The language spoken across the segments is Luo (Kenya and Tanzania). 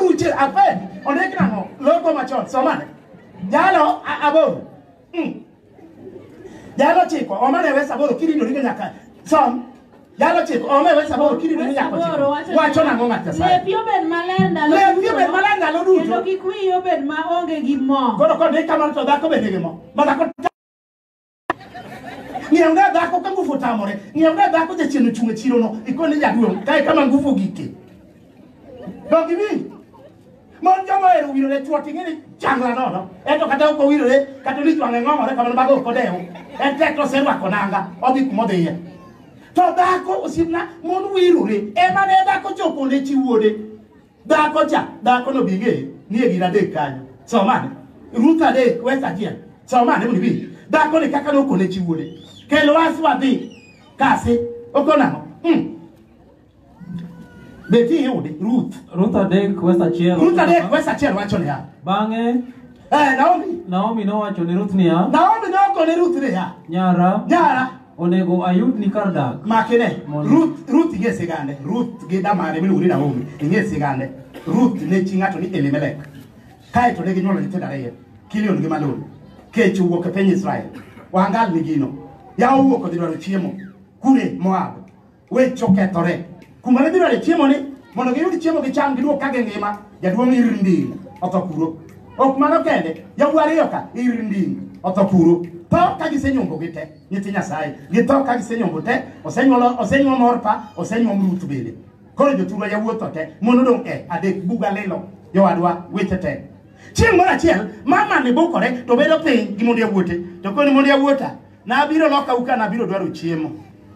Uche ape ondik nang'o loko machon somane jalo a- aboro Mm. jalo chiko omane wes aboro kiridori go nyaka som jalo chiko ome wes aboro kiridori nyaka Aboro chiko wacho wacho nang'o ng'at nyasaye Lepi obed maler ndalo Lepi duto. obed maler ndalo duto. Kendo kik wiyi obed maonge gi mo. koro kodhi kamano to dhako bende gi mo ma dhako ng'iew ne dhako ka nguvu otamore ng'iew ne dhako jachien ochung' e chirono ikone jaduong' kae kama nguvu gike dog iwinj mon joma ohero wirore chwo ting'e ni changla nono ento kata ok owirore kata ni jwang'e ng'ong'ore kamano mago ok odewo en tek to oserwako nanga odhi kuma odhiye to dhako osiepna mon wirore ema ne dhako chopo ne chi wuode Dhako cha, dhako no bing'e nie gin adek kanyo. Somane. Ruth adek, wes achiel. Somane mondo ibi. Dhako ni kaka nokone chi wuode. Kel was wadhi. Kasi. Okonang'o. Hmm. Beti iyude, Ruth. Ruth adek wes achiel. Ruth adek, wes achiel wacho niya. Bang'e Eh, Naomi. Naomi nowacho ni Ruth niya, Naomi nokone Ruth niya. Nyara, Nyara, Onego ayud ni kar dak. makine Mondo- ruth ruth ing'e sigande ruth gi damane miluongo ni naomi ing'e sigande ruth ne chi ng'ato ni elimelek kae to ne ginyuolo nyithindo ariyo kilion gi malon kech owuok e piny israel wangal ni gino yawa owuok odhi dwaro chiemo kure moab weche okethore kuma ne gidware chiemo ni mondo giyud chiemo gicham giduog ka gingima jaduong' ir nding otho kuro ok mano kende yawuo ariyo ka ir nding otho kuro tho ka gisenyombo gi te nyithi nyasaye githo ka gisenyombo te osenyuolo osenyuom orpa osenyuom ruth bende koro joturwa yawuotho te mon odong' e adek buga lilo jowadwa weche te chieng' moro achiel mama ne bukore to bedo piny gi mondo yawuote to koni mondo yawuota Nabiro loka uka nabiro dwaro chiemo.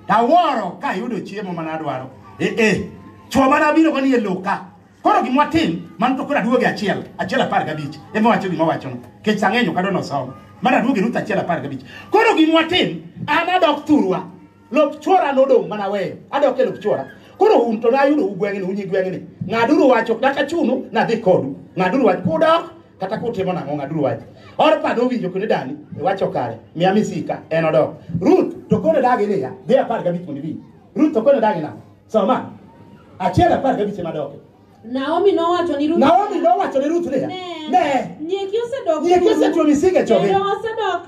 Taworo ka yudo chiemo mana dwaro. Eh eh. Chwo mana biro koni e loka. Koro gimwa tim, man to koro aduoge achiel, achiel apar gabich. Ema wacho gima wacho no. Kech sang'enyo kado no somo. Mana aduoge ruta achiel apar gabich. Koro gimwa tim, an adok thurwa. Lop chwora nodong mana weyo. Adok e lop chwora. Koro un to nayudo ugweng'ni, unyi gweng'ni. Ng'aduru wacho, kata chunu, nadhi kodu. Ng'aduru wacho, kudok, kata kutimo nang'o ng'aduru wach orpa nowinjo kendo dani iwacho kare miya misika en odok ruth to kone dagi niya dhi apar gabich mondo ibi ruth to kone dagi nang'o soma achiel apar gabich ema doke Naomi nowacho ni Ruth naomi nowacho ne ruth niya Ne. ne Nyieki osedok. Nyieki osetuo misike choge. Kendo osedok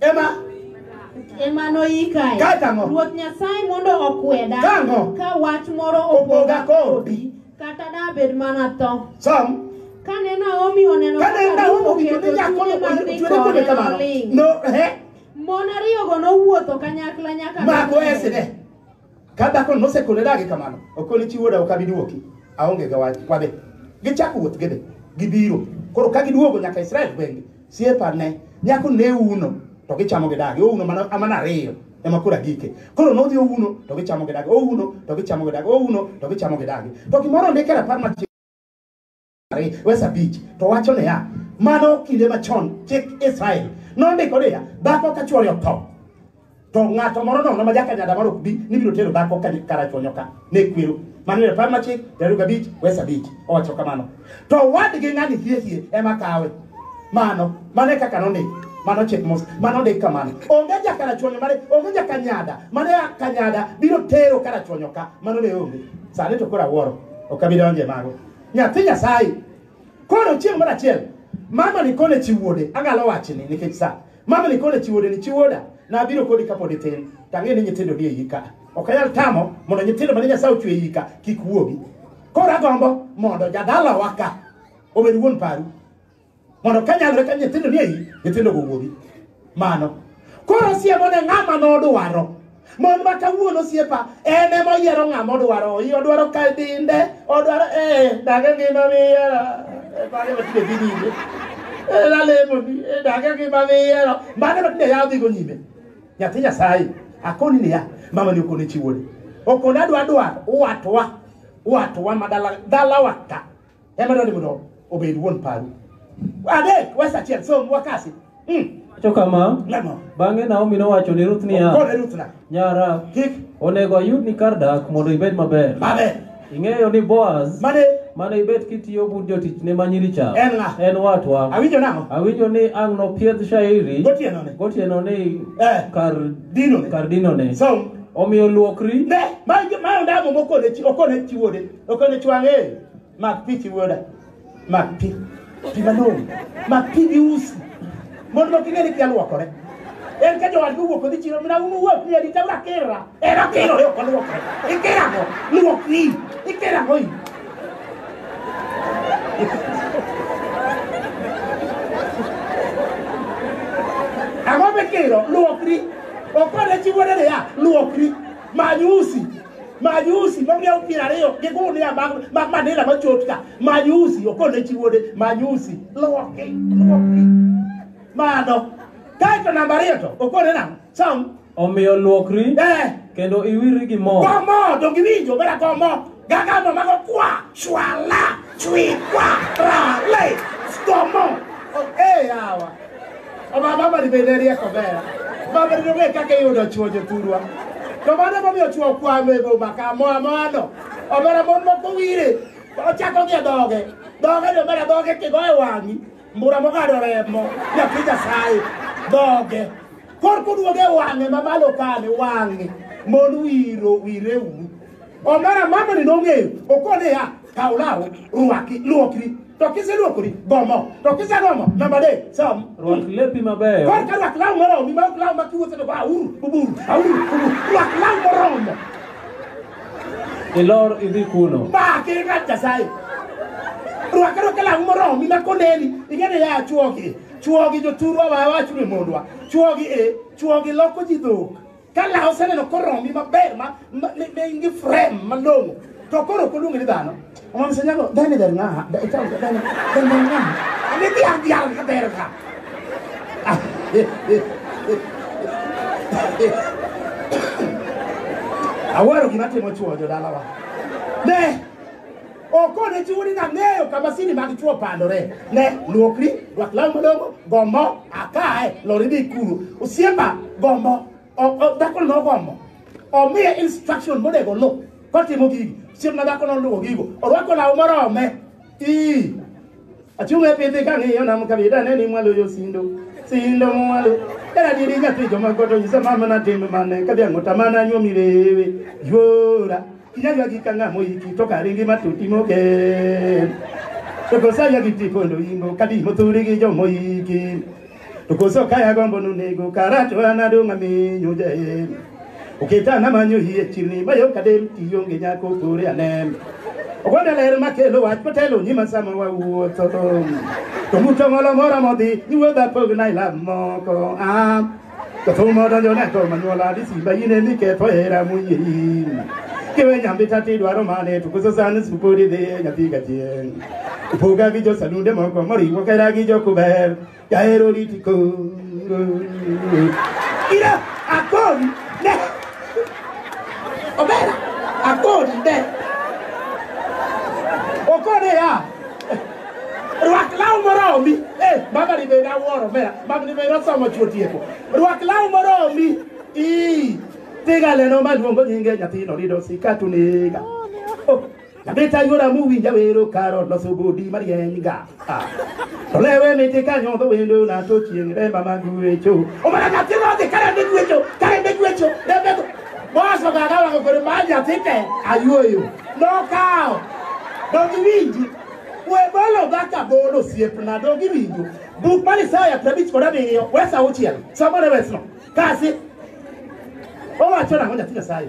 Ema ema noyikae. Kata ang'o? Ruoth Nyasaye mondo okweda Ka ang'o? ka wach moro Opoga opoga kodi. kata dabed mana tho. Som. Kane Naomi oneno Kane kaka Ruth Naomi owinjo ni oketo nyako chunye mar dhi ochwere kode kode kamano. noling'. No, eh, Mon ariyogo nowuotho kanyakla nyaka mako Bethlehem. esine. Ka dhako nosekone dagi kamano, okoni chi wuoda ok abi duoki. Aonge ga wach wabe. Gichako wuoth gidhi. Gibiro. Koro ka giduogo nyaka Israel gwenge, siepa ne nyako ne uno to gichamo gi dagi. Ouno mana amana ariyo ema kura gike. Koro nodhi ouno to gichamo gi dagi. Ouno to gichamo gi dagi. Ouno to gichamo gi dagi. To gimoro ndikera par mar Ari- wes abich to wacho niya mano kinde machon chik israel nondiko niya dhako ka chwore otho to ng'ato moro nono ma jakanyada moro ok bi ni biro tero dhako ka karachonyo ka ne kwero mano e par machik piero gabich wes abich owacho kamano to wadgi ng'ani hiehie ema kawe mano mano e kaka nondik mano chik mos mano ndik kamano onge jakarachonyo mane onge jakanyada mane kanyada biro tero karachonyo ka mano ne onge sani to koro awuoro ok abi donje mago nyathi nyasaye koro chieng' moro achiel mama ni kone chi wuode agalo wachni nikech sa mama ni kone chi wuode ni chi wuoda nabiro kodi kapod itin tang'e ni nyithindo ni eyi ka ok anyal tamo mondo nyithindo mane nyasaye ochwe eyi ka kik wuogi koro agombo mondo jadalawa ka obed wuon paru mondo ka nyalore ka nyithindo ni eyi nyithindo go wuogi mano koro siemo ne ng'ama nodwaro mon ma kawuono siepa en ema oyiero ng'ama odwaro i odwaro ka dinde odwaro ee dage ngima miyiero bage matinde dhi nyime lalemoni dage ngima miyiero bage matinde yawo dhigo nyime nyathi nyasaye akoni niya mama ni okone chiwoni okone adwa dwar watwa watwa ma dala dalawa ka Ema dwani mondo obed wuon paru. Adek, wes achiel, som, wakasi. Mm. Wacho kama, Lemo. bang'e Naomi nowacho ni Ruth niya, Kone Ruth na. Nyara, Kik. onego ayudni kar dak mondo ibed maber. Mabe. Ing'eyo ni Boaz Mane. mane ibet kitiyo bud jotichne ma nyiri cha En ng'a? en watwa. Awinjo nang'o? Awinjo ni ang' nopiedh shairi Gotieno ne. gotieno ni Eh. kar Dino ne. kar dinone. Som. Omiyo luokri Ne. Ma ma ndamo mokone chi okone chi wuode. Okone chwange. Mak pi chiwoda. Mak pi. Pi malong'o. Mak pi gi usi. Mondo ok ing'e ni kia luokore. En ka jowadgi owuok odhi chiro mana un uwuok ni arita una kira. En okirore ok oluokre. Ikira ang'o? Luokri. Ikira ang'o i? Ang'o mikiro? Luokri. Okwane chiwore niya, luokri. Many usi. Majusi ma miya piero ariyo gi gunia mag mag manila machot ka. Majusi okone chi wuode majusi loki loki. Mano. Kaito namba ariyo to okone nang'o? Sam. Omiyo luokri Eh. kendo iwiri gi mo. Komo to giwinjo bera komo. Gaga no mago kwa shwala chwi kwa rale. Komo. Oh, eh yawa. Oba mama ni bende rieko ber. Mama ni ong'e kaka iyudo chwo jothurwa. To mano momiyo chwo kwamo e boma ka moa moano. Omera mon moko wire. Ochako gi e dhoge. Dhoge ni omera dhoge kigo e wang'i. Mbura mong'ado remo. Nyathi Nyasaye. Dhoge. Kor kuduoge e wang'e mamalo kane wang'e. Mon wiro wire u. Omera mama ni nong'eyo. Okone ya. Kaw law, rwaki, luokri, to kiseluokori, gomo, to kisegomo, namba adek, som. Rwak lepi mabeyo. Kor ka rwak law moromi, ma ok law ma kiwuotho to go auru, uburu, auru, uburu, rwak law moromo. Ilor idhi kuno. Ba, kira Nyasaye. Rwak rwak law moromi ma koneni, ing'eni ya chuogi, chuogi joturwa wa wachu ni mondwa, chuogi e, chuogi loko ji dhok. Ka law oseneno koromi maber ma ne in gi frame malong'o to koro ok oluongi ni dhano. Omam senyago dhani dher ng'aha. Dhani dher ng'aha. Ani dhiang' dhiang' ka dher ka. Awaro gima timo chuo jodalawa. Ne! Okone chiwo ni nang'eyo kama sini mag chwo pandore. Ne, luokri, rwak law malong'o, gombo, akae, lori dhi kuru. Osiemba, gombo, o- o- dhakono nogombo. Omiye instruction monego oluw kotimo gigi. Osiemna dhakono oluwo gigo. Orwako law morome. Ii. Achunge pidhi kang'iyo nam kabida ne ni mwalo yo sindo sindo mwalo era diri nyathi joma goto nyisa mama na tim mane kadhi ang'o tamana nyuomi rewe yuora kinyagwa gi kang'a moiki to karingi matuti mogen to kosaya gi tikondo ingo kadi mothuri gi jomoiki To koso kaya gombo nunego karacho anadong' aminyo jael. Oketa namanyo hie chirni mayo kadem tionge nyako kore anem. Ogwanda ler makelo wach kotelo nyima sama wawuotho. To muto ng'olo mora modhi niwuodha pogna ilam moko. Ah. To thuma donjo ne to manyuola ni simba yine ni ketho hera muyieri. Kiwe nyambita tidwaro mane to koso sani supodi dhi nyathi gachieng'. Poga gi josalunde moko moriwo kera gi jokuber jahero riti koro ira akoni ne obera akoni ne okone ya rwak law moromi eh, baba ni bende awuoro mera baba ni bende osomo chuo tieko rwak law moromi ii tiga leno maluongo nyinge nyathino rido sikatu nega oh. Nabeta yora muwinja wero karo loso bodi marieny ga. Ah. To lewe miti ka nyodho wendo na to chieng' remba mag wecho. Omana nyathi rodhi kare ne gwecho, kare ne gwecho, rembe go. Boso gaga wako kore ma nyathi te ayuoyo. Nokawo. Dongi winji. We bolo baka bolo siepna dongi winji. Buk mar Isaya prabich kod abiriyo, wesa auchiel. Somo ne wesno. Kasi. Owacho nang'o nyathi Nyasaye?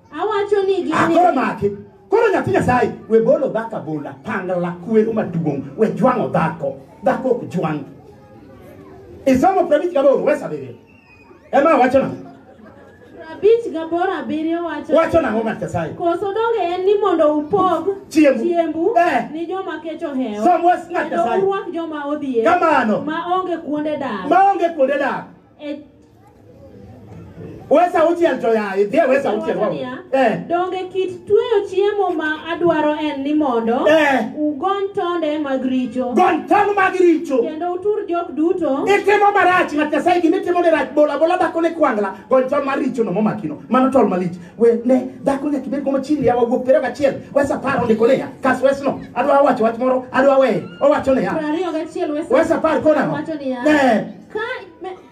Awacho ni gini. Akoro maki. Koro nyathi Nyasaye we bolo dhaka bola pangla kwero maduong' we jwang'o dhako dhako ok jwang'. Isomo prabich gaboro we sabiriyo. Ema wacho nang'o? Prabich gaboro abiriyo wacho. Wacho nang'o ng'at Nyasaye? Koso donge en ni mondo upog chiembu, chiembu eh. ni joma kech ohewo. Som was ng'at Nyasaye. Kendo urwak joma odhier. Kamano. Ma onge kuonde dak. Ma onge kuonde dak. E Wesa uchiel to ya, idhie wesa uchiel wawo. Eh. Donge kit tweyo chiemo ma adwaro en ni mondo Eh. ugony tonde mag richo Gon tong mag richo. kendo utur jok duto Itimo marach ng'at Nyasaye gima itimo ni rach bola bola dhako ne kwangla gon tong mar richo no momakino. Mano tol malich. We ne dhako nyaka ibed gomo chini yawa wuok pero gachiel. Wesa paro ndiko ne ya. Kas wesno. Adwa wacho wach moro, adwa we. Owacho ne ya. Pra ariyo gachiel Wesa par kona. wacho niya Eh. Ka,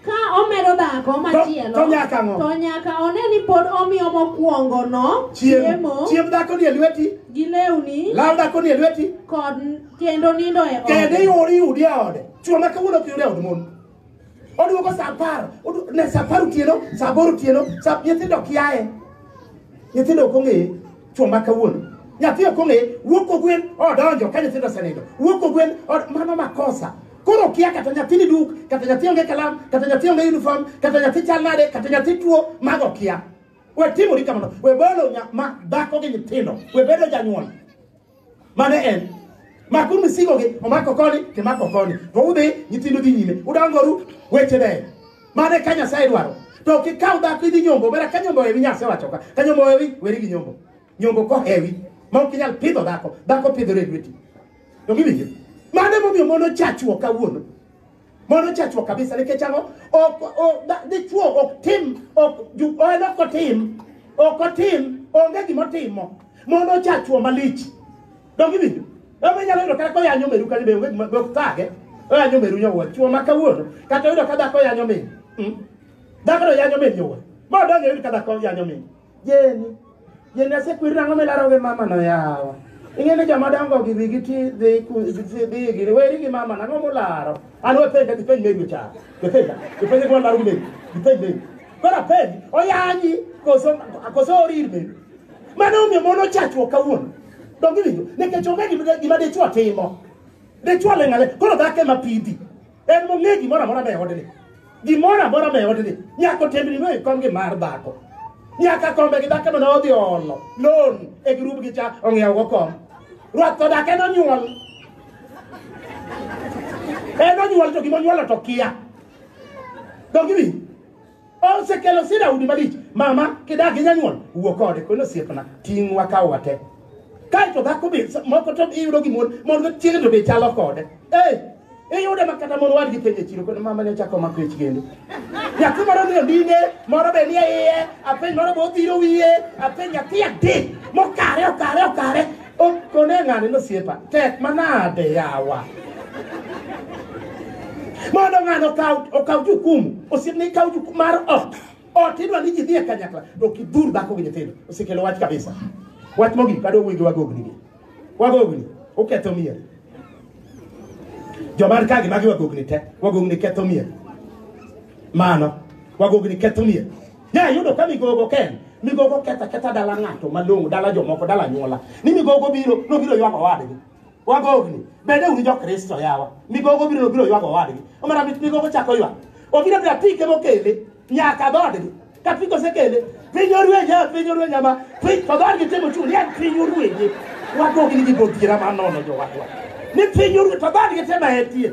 ka omedo dhako machielo to nyaka ang'o? to nyaka one ni pod omiyo mokwongono chiemo chiemb dhako ni e lweti gi lewni law dhako ni e lweti kod kendo nindo e kendo ode iwori yudi e ode chwo ma kawuono ok yud e od mon oduogo sa apar odu- ne sa apar otieno sa aboro otieno sa nyithindo ok yaye nyithindo ok ong'eye chwo ma kawuono nyathi ok ong'eye wuok ogwen odonjo ka nyithindo osenindo wuok ogwen od- mano makosa Koro okia kata nyathi ni duk, kata nyathi onge kalam, kata nyathi onge uniform, kata nyathi chal nade, kata nyathi tuo, mago okia. We timori kamano, we bolo nya, ma dhako gi nyithindo, we bedo janyuol. Mano en. Makuru misigo gi, omako koni, timako koni. To udhi, nyithindo dhi nyime, udangoru, weche beyo. Mano e ka Nyasaye dwaro. To ok ikaw dhako idhi nyombo, bera ka nyombo hewi Nyasaye wacho ka. Ka nyombo hewi, weri gi nyombo. Nyombo kohewi, ma ok inyal pidho dhako, dhako pidhore e lweti. To giwinjo. Mano emomiyo mon ochachuok kawuono. Mon ochachuok kabisa nikech ang'o? Ok o- da- dichwo ok tim ok ju- en ok otim ok otim onge gima otimo. Mon ochachuo malich. Donge iwinjo? Ema inyalo yudo kata koyanyo meru kata be onge gima be ok thage. Oyanyo meru nyawuoyi. Chuo ma kawuono kata oyudo ka dhako yanyo min. Mm. Dhako no yanyo min nyawuoyi. Ma odonge oyud ka dhako yanyo min. Jeni, jeni asekwer nang'o milaro gi mama no yawa. Ing'e ni joma dongo gi wigi ti dhi ku- dhi dhi gini weri gi mama nang'o mularo. An wapenja gi penj megi cha. Gipenja, gipenja gi walaro megi, gipenj megi. Koro apenj, oyanyi koso koso orir megi. Mano omiyo mon ochachruok kawuono. Donge winjo? Nikech onge gima gima dichwo timo. Dichwo ling'ale, koro dhako ema pidhi. En mong'e gimoro amora be odni. Gimoro amora be odni. Nyako tembni no ikom gi mar dhako. Nyaka kombe gi dhako mana odhi olo. Loan e grup gi cha ong'iewo go kom. Ruath to dhako en onyuol. En onyuol to gima onyuolo to kia. Dongi wi. Osekelo sida udi malich. Mama kidak gi nyanyuol wuo kode kono osiepna ting' wakaw wate. Kae to dhako be sa- moko to iyudo gi mon mon to chiege to be chalo kode. Eh iyudo ma kata mon wadgi penje chiro kono mama ne chako mako ich kendo. Nyathi moro ni ondine moro be nie iye apenj moro be odhiro wiye apenj nyathi adek mokare okare okare Kone ng'ani nosiepa tek manade yawa mondo ng'ano okaw jukumu osiepne ikaw jukumu mar ot ot idwa ni ji dhi e kanyakla to ok idhur dhako gi nyithindo osekelo wach kabisa wach mogik adwa wuoyi gi wagogni gi wagogni uketho mier jomar kagi magi wagogni te wagogni ketho mier mano wagogni ketho mier Ne ayudo ka migogo ken migogo ketha ketha dala ng'ato malong'o dala jomoko dala nyuola ni migogo biro nobiro ywago wadgi wagogni bende un jokristo yawa migogo biro nobiro ywago wadgi omara mit migogo chako ywak obiro bira pike mokele nyaka dhodgi ka pike osekele piny orwenye piny orwenye ma piny to dhodgi timo chul yan piny orwenye wagogni gi godhiera manono jowadwa ni piny orwenye to dhodgi tema etie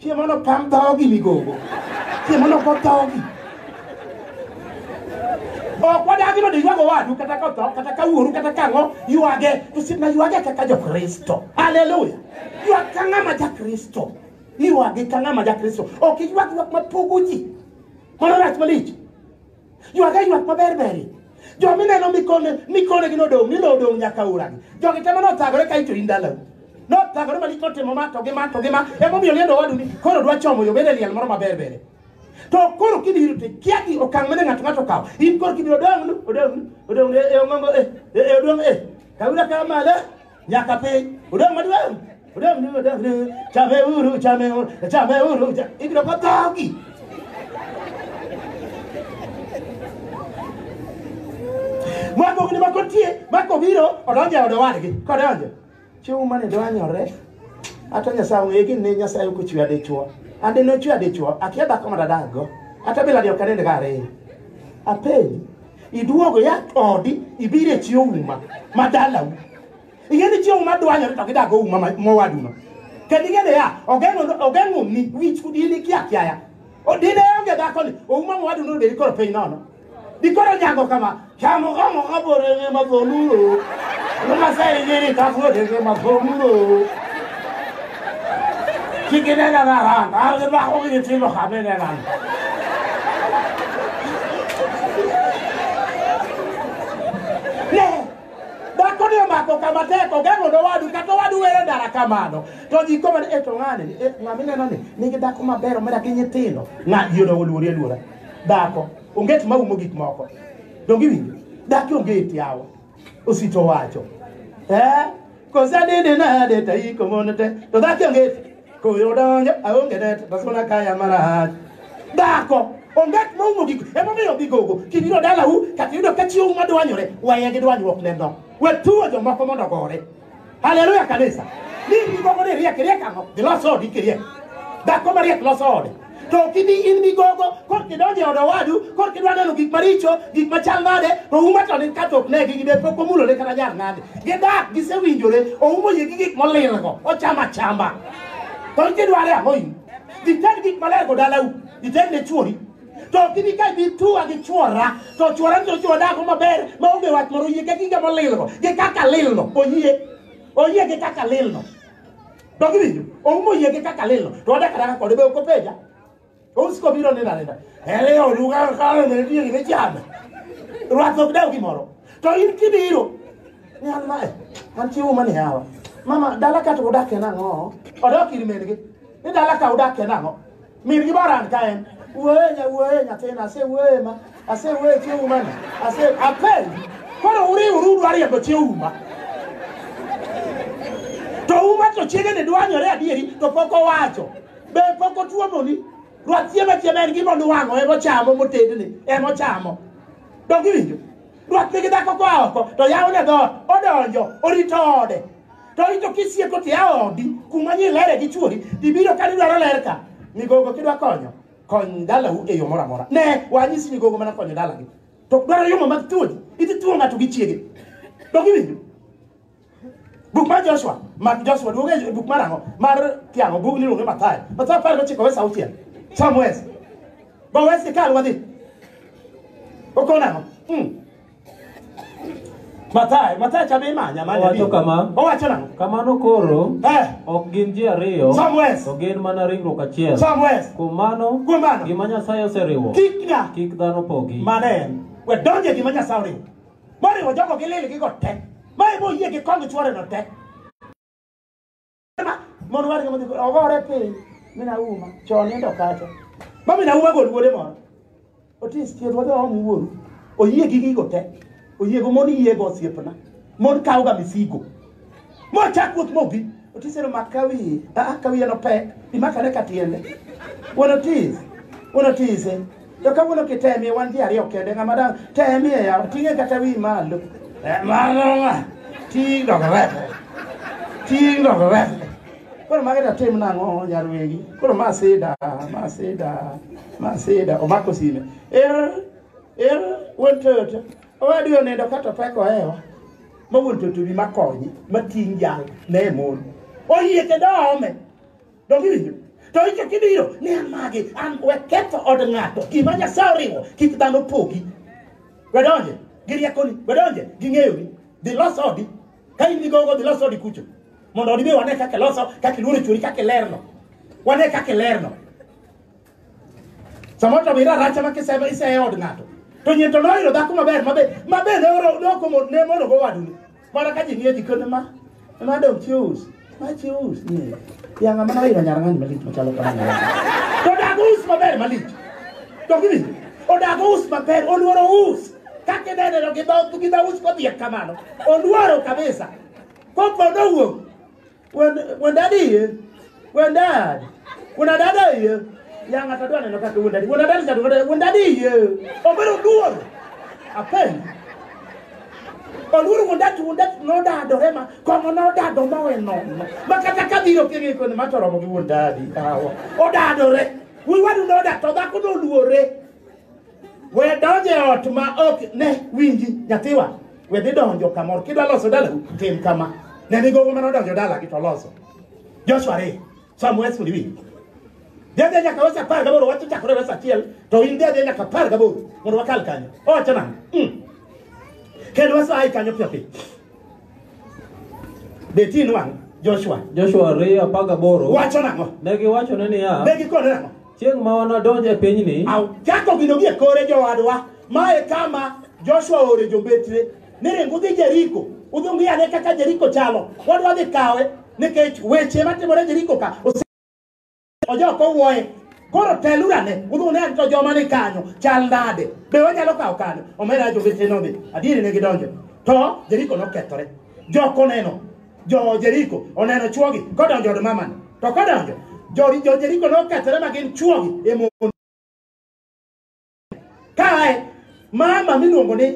Cie mondo pam dhogi migogo. Cie mondo go dhogi. Ok wadagi mondo iywag owadu kata ka otho kata ka wuoru kata ka ang'o ywage to sipna ywage kaka jokristo. Haleluya. Ywag ka ng'ama jakristo. Ywage ka ng'ama jakristo. Ok iywag ywak mapogo ji. Mano rach malich. Ywak e ywak maber beri. Jo mineno mikone mikone gi nodong' ni nodong' nyaka uragi. Jogi temo nothagore ka ito in dalau. Nothagore malich notimo ma to gi ma to gi ma emomiyo liendo wadu ni koro dwa chomo yo bede liel moro maber bere. To koro kibiro te kia gi okang' mane ng'ato ng'ato kawo. In koro kibiro odong' nu odong' nu odong' e e ongongo e e e odong' e. Kawira kama le. nyaka piny odong' maduong' odong' ni odong' ni chame uru chame uru chame uru cha- ibiro ka dhogi mwambogni ma kotie ma kobiro odonjo e od owadgi kodonjo chiwo mane dwanyore ata nyasaye ong'e gin ne nyasaye ok ochwe adichwo ande nochwe adichwo akia dhako ma dadakgo ata biladi ok anend ka ariyo apenji iduogo ya odi ibiro e chi ouma ma dalau ing'e ni chi ouma dwanyore to gidago ouma ma- mowaduno kendo ing'e ni ya ogeng'o- ogeng'oni wich kudini kia kiaya O- dine onge dhakoni ouma mowaduno obedi koro piny nono dikoro nyango kama chamogomo kaborenge madholulo lumasainyiri kakodenge madholulo Ki ke nena na rana, a re ba go ke tselo ga me nena. Ne, dako ne mako kama teko geng'o no wadu kata wadu were dara kamano. To ji koma ni eto ng'ane ni e, ng'ami neno ni nigi dako maber omera gi nyithindo. Ng'a ji odongo luori aluora. Dako onget maumo gik moko. Dongi winjo. Daki onge eti awa. osito wacho eh kose nini nade ta iko mono te to dhaki onget koyo donjo aonge net to sona kaya marach dhako onget moumo gik emomiyo gigogo kibiro dalau kata yudo ka chiwo madwanyore weye gi dwanyruok neno we tuwo jomoko mondo gore Haleluya kanisa. Ni migogo ni riek riek ang'o? Dhi los odi kiriek. Dhako mariek loso ode. To ok ibi in migogo kor kidonjo e od owadu kor kidwa neno gik maricho gik machal nade to uma to ni kato ok negi gide pok omulore kata jar nade. Gidak gisewinjore oumo yie gi gik molilgo ochamo achamba. To kidware ang'o in? Ited gik maler go dalau. Ited ne chuori. to ok ibi ka ibi tuwa gi chwora to chwora to chwo dako maber ma onge wach moro oyie gi giga molilno gi kaka lilno oyie oyie gi kaka lilno dok iwinjo oumo oyie gi kaka lilno to wadaka daka kode be ok openja ousiko biro nena nena ele oduka kale ne tie ne chana rwath ok dew gimoro to in kibiro ni an mae an chiwo mani hawa mama dala ka to udakie nang'o odok ir min-gi ni dala ka udakie nang'o Min gi baran ka en. Wuoye nya wuoye nyathina ase wuoye ma ase wuoye chi uma ni. Ase apel. Koro uri uru dwari yabo chi uma. To uma to chiege ni dwanyore adieri to pok owacho. Be pok otuomo ni. Ruath chiema chiema en gima nuwang'o emo chamo motedni emo chamo. Dongi winjo. Ruath nigi dhako kwa oko to yawo ne dhoot odonjo orito ode. to ito kisieko ti aodi kuma ni lere gi chuori ibiro ka dwaro ler ka migogo kidwa konyo kony dalau e yo moro amora ne wanyisi migogo mana konyo dalagi to dwaro yomo mag thuoji idhi thuo ng'ato gi chiege to giwinjo buk mar joshua mak joshua duoge e buk mar ang'o mar kiang'o bug niluonge mathayo mathayo apar gochiko wes auchiel sam wes go wes ikal wadhi okon ang'o hmm. Mathayo, Mathayo cha be imanya manya. Owacho bi. kama. Owacho nang'o? Kamano koro, Eh, ok gin ji ariyo, Samuel. to gin mana ringruok achiel. Samuel. Kuom mano, Kuom mano. gima Nyasaye oseriwo, Kik ng'a kik dhano pogi. mane en. We donje gima Nyasaye oriwo. Moriwo jogo gi lil gi go tek. Ma ibo yie gi kong chwore no tek. mondo warga modhi ogore piny min auma chon nindo kacha ma min auma gol wuode moro otis thieth wadhi waom wuoru oyie gi gigo te oyiego mon yiego osiepna mon kawga misigo mochak wuoth mobi otis ero mak ka wiye aa ka wiye nopek imakane ka tiende wuon otis wuon otise To kawuono kitemie wan ji ariyo kende ng'ama dang' temie yawa ting'e kata wi malo. Eh, Mano ng'a? Ting' dog refe. Ting' dog refe. Koro magi to tim nang'o nyar wegi? Koro ma sida, ma sida, ma sida. Omako sime. Er, er, wuon Toyota. Owadu onindo kata opek ohewa. Ma wuon Toyota obi makonye, mating' jal, ne mon. Oyie kendo oome. Donge iwinjo? To icho kibiro ni an magi, an we ketho od ng'ato. Gima Nyasaye oriwo, kik dhano pogi. We donje gi riekoni, we donje gi ng'eyoni. Dhi los odi. Ka in gi gogo, dhi los odi kucho. Mondo odi be wane kaka iloso, kaka iluoro chwori, kaka ilerno. Wane kaka ilerno. Samoro to mira racha ma kisema ise od ng'ato. To nyien to noyudo dhako maber mabe mabe ne oro ne okomo ne mono go wadu. Mara ka ji nie jikon ma ma dong chius. Ma chius ni. Ya ng'ama noyudo nyar ng'ani malich machalo kamano. To dago us maber malich. To gini odago us maber oluoro us. Kaka ineneno gi dho gi dho us kodhiek kamano. Oluoro kabisa. Kopo nowuok. Wen- Wendadi iye. Wendad. Wendadada iye. Ya ng'ato adwa neno kaka wendadi. Wendadadi cha dwaro. Wendadi iye. Obiro duor. Apen. Oluoro wendadi wendadi nodado hema. Kong'o nodado mawe nono. Ma kata ka biro kiri koni ma toromo gi wendadi. Awa. Odadore. Wiwadu noda to dhako noluore. We donjo e ot ma ok ne winji nyathiwa. We dhi donjo kamoro. Kidwa loso dalau, tim kama. Ne ni gogo mane odonjo dalagi to loso. Joshua re, some words will be. Dhi adhi nyaka wes apar gaboro, wach ochakore wes achiel, to in dhi adhi nyaka apar gaboro mondo wakal kanyo. Owacho nang'o? Mm. Kendo wes aye kanyo piyo piyo. Be tin wang' Joshua. Joshua ariyo apar gaboro Wacho nang'o? ne giwachone niya Ne gikone nang'o? Chieng' ma wanadonj e pinyni, Chako gino gie kore jowadwa, ma e kama Joshua oore jombetre ni ring udhi Jeriko, udhi ung'i ane kaka Jeriko chalo. Wadwa dhi kawe nikech weche matimore Jeriko ka ose- ojok owuoye. Koro teluru ane, udhi une ane to joma ni kanyo chal nade. Be wanyalo kawo kanyo? Omera jombetre nodhi. Adieri ne gidonjo. To Jeriko nokethore. Jok oneno jo Jeriko oneno chwogi kodonjo od mamani. To kodonjo, jo, jo Jeriko nokethore ma gin chwogi e mon. Kae, mama miluongo ni,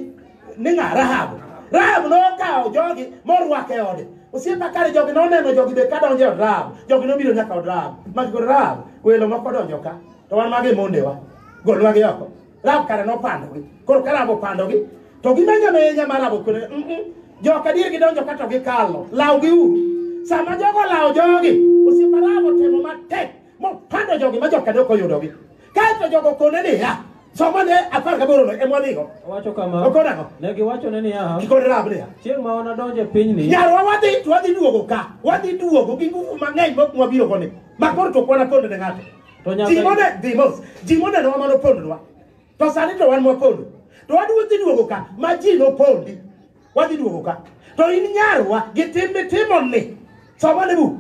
ni ng'a Rahab. Rahab nokawo jogi morwako e ode. Osiepa kare jogi noneno jogi be ka donjo e od Rahab. Jogi nobiro nyaka od Rahab. Magi kod Rahab, welo moko donjo ka. To wan magi mondewa. Golwagi oko. Rab kare nopandogi. Koro ka Rab opandogi, to gimenyo menya ma Rab okwere. Mm -mm. Joka dier gidonjo ka to gikalo. Lawgi uru. Sama jogo lawo jogi, osiepa Rab otemo matek mopando jogi ma joka dok oyudogi. Kaeto jogo okone niya, somane apar gaborono ema wadhigo. Owacho kama, Okone ang'o? ne giwachone niya, Gikone Rab niya, chieng' ma wanadonj e pinyni, nyarwa wadhi to wadhi duogo ka wadhi duogo gi nguvu mang'eny mok mwabirogo ni makoro to kwana ponde ne ng'ato To Nyasaye- ji mone dhi mos ji monenowa mane opondonwa to sani to wan mwapondo to wadwa dhi duogo ka ma ji nopondi wadhi duogo ka to in nyarwa gi tim mitimo ni somane buk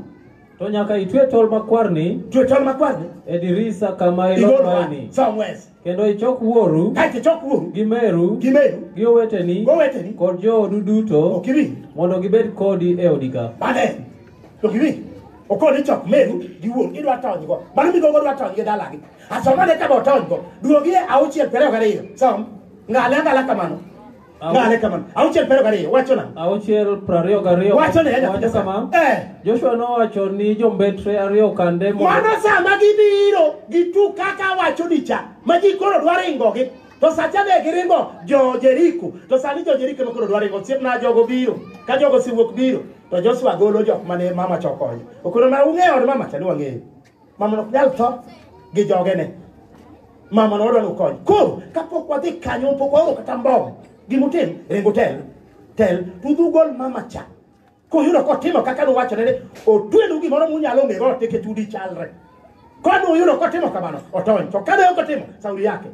To nyaka itwe tol makwarni twe tol makwarni e dirisa kama igolwa ilokwaeni. somewhere Kendo ichok wuoru kaeto ichok wuoru gi meru gi meru gi oweteni goweteni kod joodu duto ok iwinj mondo gibed kodi e odi ka. mane ok iwinj okoni chok meru gi wuoru idwa tonygo mano migogo dwa tonygi dalagi asomane kama otonygo duogie auchiel piero ariyo gariyo som ng'ale ang'ala kamano Au- Ng'ale kamano. Auchiel piero gariyo, wacho nang'o? auchiel prariyo gariyo Wacho ne Nyasaye. wacho kama Eh. joshua nowacho ni jombetre ariyo kande mondo Mano sama gibiro gitu kaka wacho ni cha, ma ji koro dwa ringogi. To sacha ne giringo jo Jeriko. To sani jo Jeriko ema koro dwa ringo. Osiepna jogo biro. Ka jogo osewuok biro, to Joshua golo jok mane mama chokonyo. Okoro ma ung'eyo od mama cha ni wang'eyo. Mama ok nyal tho gi jogene. Mama no odwaro kony. Koro kapok wadhi kanyo pok waoro kata mbom. Gimutim ringo tel. Tel tudhu gol mama cha. Kuyudo kotimo kaka nuwachone ni otwenu gimoro munyalo ng'ego teke tudi chalre. Kanu uyudo kotimo kamano otony. To kane ok otimo sauri yake.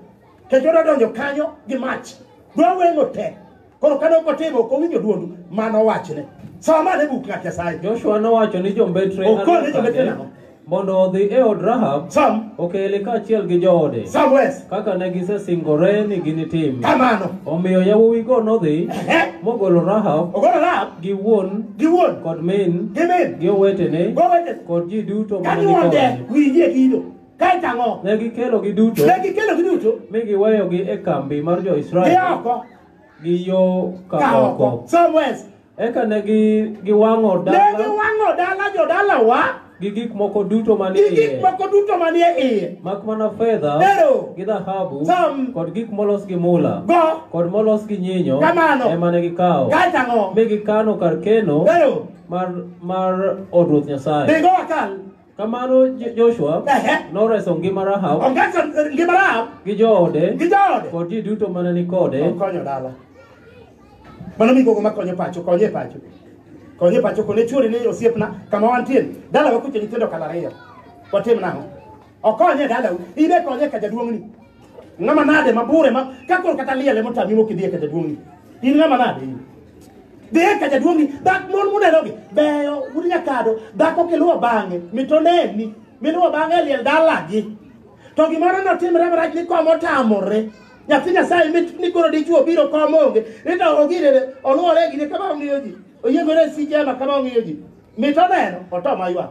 Kech odwa donjo kanyo gi mach. Dwa weng'o te. Koro kane ok otimo, ok owinjo dwond ma nowachne. Som ane buk ng'at Nyasaye. Joshua nowacho ni jombetre Okone Alufe jombetre adek nang'o? mondo odhi e od Rahab Som, okele kaachiel gi joode som wes. kaka ne gisesingore ni ginitim. Kamano. Omiyo yawuowigo nodhi Ehe. mogolo Rahab Ogolo Rahab gi wuon gi wuon kod min gi min. gi owetene Gowete. kod ji duto ma ne ni Kanyuonde kode. winjie kido. Kaeto ang'o? Ne gikelogi duto Ne gikelogi duto. mi giweyogi e kambi mar jo-Israel Gioko. gi yo ka ka oko oko. Somewhere. Eka ne gi- giwang'o Ne dala giwang'o dala jodalawa gi gik moko duto manie gi gik iye, moko duto manie iye. mak mana fedha Ero. gi dhahabu Sam. kod gik molos gi mula Go. kod molos gi nyinyo Kamano. ema ne gikawo Kae tang'o. mi gikano kar keno Ero. mar mar od ruoth Nyasaye. Dhigo wakal. Kamano Jo- Joshua Ehe. noreso ngima Rahab Ongeso ngima Rahab gi joode gi jaode. kod ji duto mane ni kode. Okonyo dala. Mano migogo makonyo pacho, konyo e pacho. Konyo e pacho kone churi ni osiepna kama wantie. Dala wakuche nyithindo kala ariyo. Watim nang'o? Okonyo e dala. Ibe konyo e ka jaduong'ni. Ng'ama nade mabure ma ka koro kata liel ema otami mok idhi e ka jaduong'ni. In ng'ama nade in? Dhi e ka jaduong'ni, dak mon munerogi beyo, un nyakado, dhako kiluwo bang'e, mitoneni, miluwo bang'e e liel dalagi. To gimoro notimre marach ni kom otamore. Nyathi Nyasaye mit ni koro dichwo obiro kom onge, ni to ogirene, oluwore e gine kama ong'iyo ji, oyiengore e sije ema kama ong'iyo ji. Mitoneno, otoma ywak.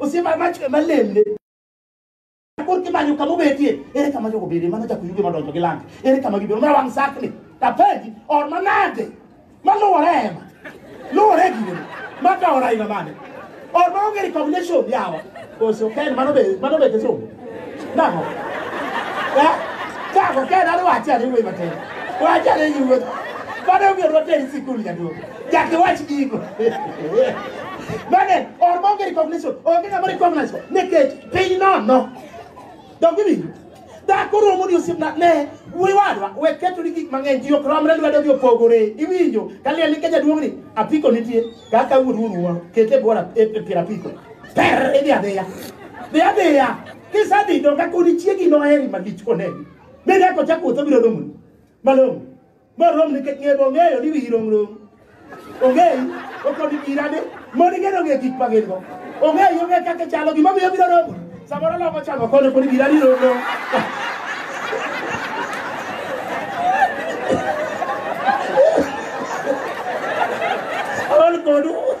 osiepa machwe malemne kor kimanyo kama obetie ere kama jogo bede mano chako yuge madonjo gi lange ere kama gibedo mara wang' sakni tapenji or manade maluwore ema luwore e gine makaora ina mane or maonge recognition yawa koso ken mano be mano be kisungu Nako. Eh? Nako ke na wa cha ni we mate. Wa cha ni yu. Bado mi ro teri sikul ya do. Ja ke wa chi ko. Mane or mo ngeri recognition. O ngeri mo recognize ko. Ne ke piny no no. Don't give me. Da ko ro mo ni osip na ne. Wi wadwa we keto ni gik mang'eny ji ok romre lwedo gi opogore. Iwinjo ka liel ni ke jaduong' ni apiko nitie kaka wuod wuon wuon kete bora e pira apiko. per idhi adhiya dhi adhiya kisedhi to ka kodi chiegi noheri malich koneni mi ne kocha kuotho biro romoni malong'o morom nikech ng'e bong'eyo ni wiyi romrom ong'eyi okoni irade moni ng'e nong'e gik ma gin go ong'eyi ong'e kaka chalo gima miyo biro romoni samoro loko chamo kono koni iradi romrom All good.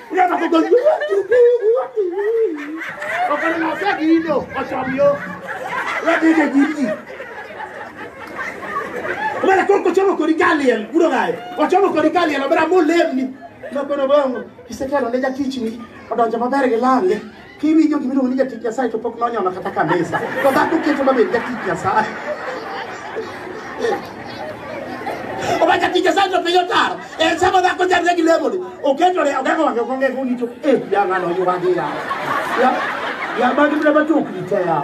Uya na kugo you want to be, you want to be. Okana na se ki ino, ochom yo. Uya ke ke jiji. Umana koko chomo kori galiel, buro gae. Ochomo kori galiel, obera mo lemni. Nokono bongo, isekelo ne jatichni, odonjo maber gi lange. Kiwinjo gima iluongo ni jatich Nyasaye to pok nonyono kata kanisa. To dhako keto mabed jatich Nyasaye. Owacho tich Nyasaye to piny otaro. En sama dhako chandre gi lemoni. Oketore ogako wang'e ogong'e ong'icho. Eh, ya ng'ano yuwagi ya. Ya, ya magi mna matokni te ya.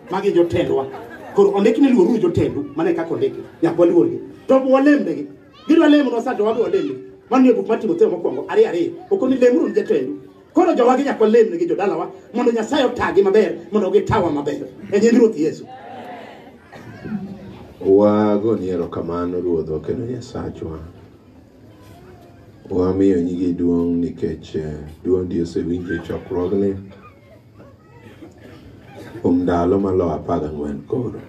Magi jotendwa. Koro ondik ni luoruru jotendu, mano e kaka ondiki. Nyaka waluorgi. To ok walembnegi. Gidwa lemonwa sa to wabe walemni. Mano e buk mar Timotheo mokwongo, ariyo ariyo. Ok ni lemuru ni jotendu. Koro jowagi nyaka walemnegi jodalawa mondo Nyasaye otagi maber mondo gitawa maber. E nying Ruoth Yesu. Wagoni erokamano Ruodhwa kendo Nyasachwa. Wamiyo nyingi duong' nikech eh, dwondi osewinjo e chokruogni. kuom ndalo maloyo apar gang'wen koro.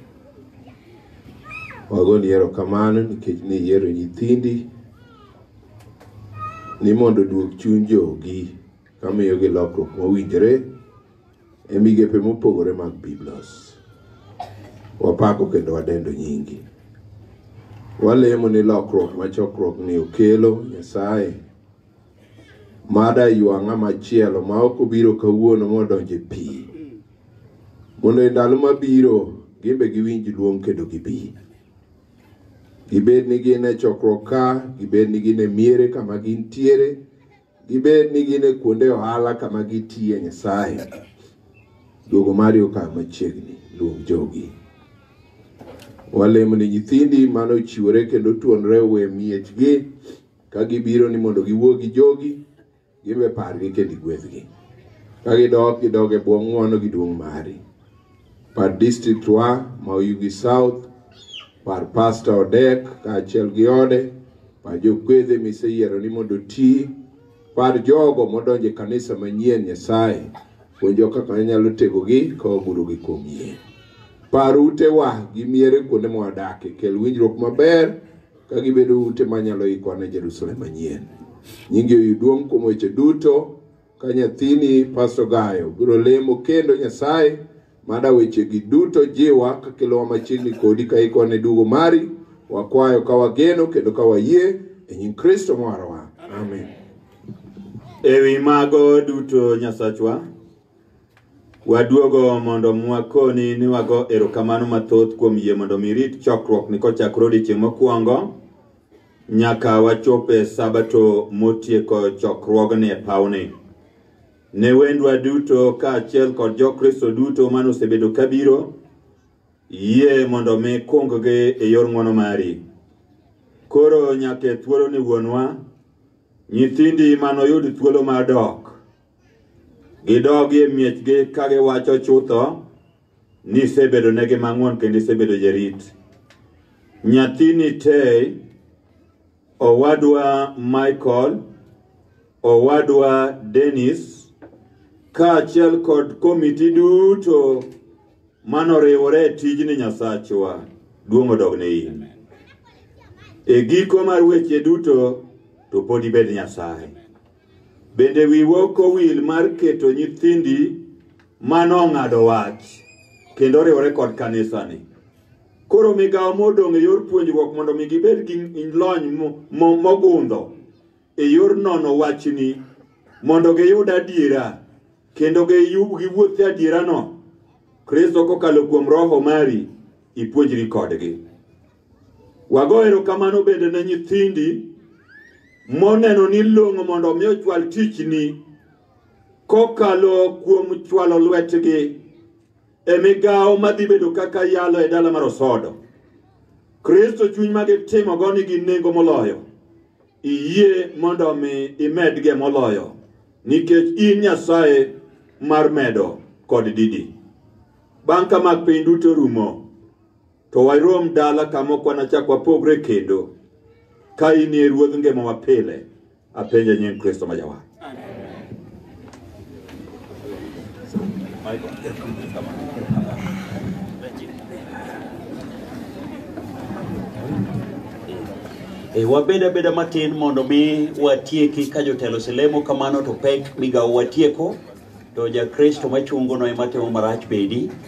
Wagoni erokamano nikech ne iyiero nyithindi ni mondo oduog chuny jogi kamiyogi lokruok mowinjore e migepe mopogore mag Biblos. Wapako kendo wadendo nyingi. Walemo ni lokruok ma chokruokni okelo Nyasaye mada ywa ng'ama chielo ma ok obiro kawuono modonje pi mondo e ndalo mabiro gimbe giwinj luong kendo gibi gibed ni gin e chokruok ka gibed ni gin e miere kama gintiere gibed ni gin e kuonde ohala kama gitiye nyasaye duogo mari okaw machiegni luong jogi walemo ni nyithindi mane ochiwore kendo tuonre owe miechgi Ka gibiro ni mondo giwuo gi jogi, giwe pargi kendo igwedhgi. Ka gidok, gidog e bwo ng'wono gi duong' mari. Par district wa ma Oyugi South, par Pastor Odek kaachiel gi ode, par jokwedhe miseyiero ni mondo oti, par jogo modonjo e kanisa manyien Nyasaye, puonjo kaka inyalo tegogi ka wagurogi kuom yie. Par utewa gi miere kuonde mwadakie, kel winjruok maber ka gibedo ute ma nyalo ikwa ne Jerusalem manyien. Nyingi oyuduong' kuom weche duto ka nyathini Pastor Gayo biro lemo kendo Nyasaye mada wechegi duto jiwa ka kelowa machiegni kodi ka ikwa ne dugo mari wakwayo ka wageno kendo ka wayie e nying Kristo mwarwa. Amen. Ewi mago duto Nyasachwa, Waduogo mondo mwakoni ni wago erokamano mathoth kuom yie mondo mi rit chokruok ni kochakre odiechieng' mokwongo nyaka wachope sabato motieko chokruogni e pawni. Ne wendwa duto kaachiel kod jokristo duto mane osebedo kabiro yie mondo mi kunggi e yor ng'wono mari. Koro nyaka e thuoloni wuonwa, nyithindi manoyud thuolo mar dok Gidogi e miechgi ka giwacho chutho ni isebedo negi mang'won kendo isebedo jarit. Nyathini Tei, owadwa Michael, owadwa Dennis, kaachiel kod komiti duto manoriwore e tijni Nyasachwa, duong' odogne in. E giko mar weche duto to pod ibed Nyasaye. Bende wiwa ok owil mar keto nyithindi ma nong'ado wach kendo riwore kod kanisani. Koro migawo modong' e yor puonjruok mondo mi gibed gi lony mogundho e yor nono wachni mondo giyud adiera kendo giwuoth e adierano. Kristo kokalo kuom Roho mari ipuonjri kodgi. Wago erokamano bende ne nyithindi moneno ni long'o mondo omi ochwal tichni kokalo kuom chwalo lwetgi e migawo madhi bedo kaka yalo e dala mar Osodo. Kristo chuny ma gitimogo nigi nengo moloyo. Iyie mondo omi imedge moloyo nikech in Nyasaye mar medo kod didi. Bang' ka mag piny duto rumo, To warom dala kama ok wanachak wapogre kendo. Ka in e ruodh ngima wa pile, apenja nying Kristo ma jawa. E, wabed abeda matin mondo mi watieki ka jotelo selemo kamano to pek migawo watieko to jakristo machungono ema timo marach bedi